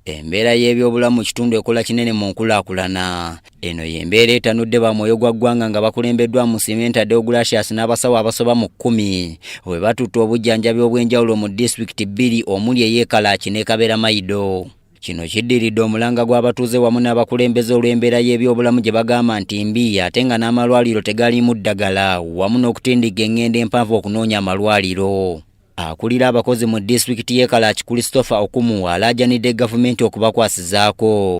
Embeera y'ebyobulamu mu kitundu ekola kinene mu nkulaakulana. Eno y'embeera etanudde ba mwoyo gwa ggwanga nga bakulembeddwa mu Simenta Deogratius n'abasawo abasoba mu kkumi bwe batutte obujjanjabi obw'enjawulo mu disitulikiti bbiri omuli ey'e Kalachi ne Kaberamaido. Kino kiddiridde omulanga gw'abatuuze wamu n'abakulembeze olw'embeera y'ebyobulamu gye bagamba nti mbi ate nga n'amalwaliro tegaliimu ddagala wamu n'okutindigga eng'endo empanvu okunoonya amalwaliro. Akulira abakozi mu disitulikiti y'e Kalachi Christopher Okumu alaajanidde gavumenti okubakwasizaako.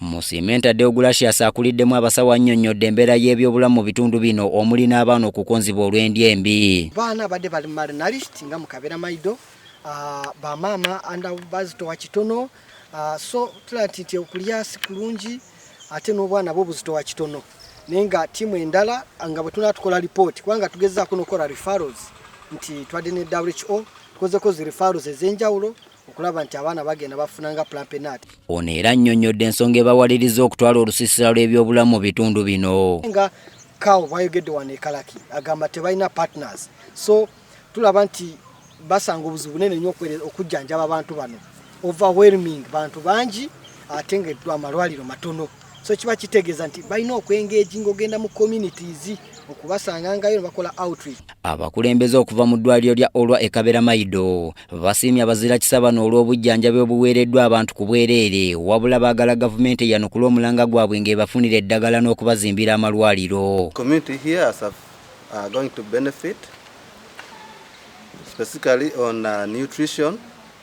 Musimenta Deogratias akuliddemu abasawo annyonnyodde embeera y'ebyobulamu mu bitundu bino omuli n'abaana okukonzibwa olw'endya embi. Baana abadde bali mu marinalist nga mu kabeera maido ah, bamaama anda bazitowa kitono ah, so tulaba nti nti okulya si kulungi ate n'obwana bwo buzitowa kitono naye nga tiimu endala ah, nga bwe tunaa tukola lipooti kubanga tugezaako n'okukola referrals nti twadde ne who tukozeko zi referrals ez'enjawulo okulaba nti abaana bagenda bafuna nga plampenat ono era annyonnyodde ensonga ebawaliriza okutwala olusiisira lw'ebyobulamu mu bitundu bino nga kawo bwayogedde wano ekalaki agamba tebalina partners so tulaba nti basanga obuzibu bunene nnyo okujjanjaba abantu bano overwhelming bantu bangi ate nga amalwaliro matono so kiba kitegeeza nti balina okwengeji ng'ogenda mu communities okubasangangayo ne bakola outreach abakulembeze okuva mu ddwaliro lya olwa ekabera mayido basiimye abazira kisa bano olw'obujjanjabi obuweereddwa abantu ku bwereere wabula baagala gavumenti eyanukula omulanga gwabwe ng'ebafunira eddagala n'okubazimbira amalwaliro uh, going to benefit specifically on uh, nutrition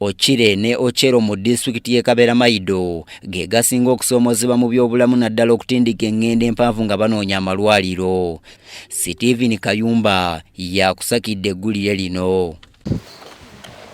Okire ne Ocero mu disitulikiti y'e Kaberamaido ge gasinga okusoomozebwa mu byobulamu naddala okutindika eng'endo empanvu nga banoonya amalwaliro. Steven Kayumba yakusakidde eggulire lino.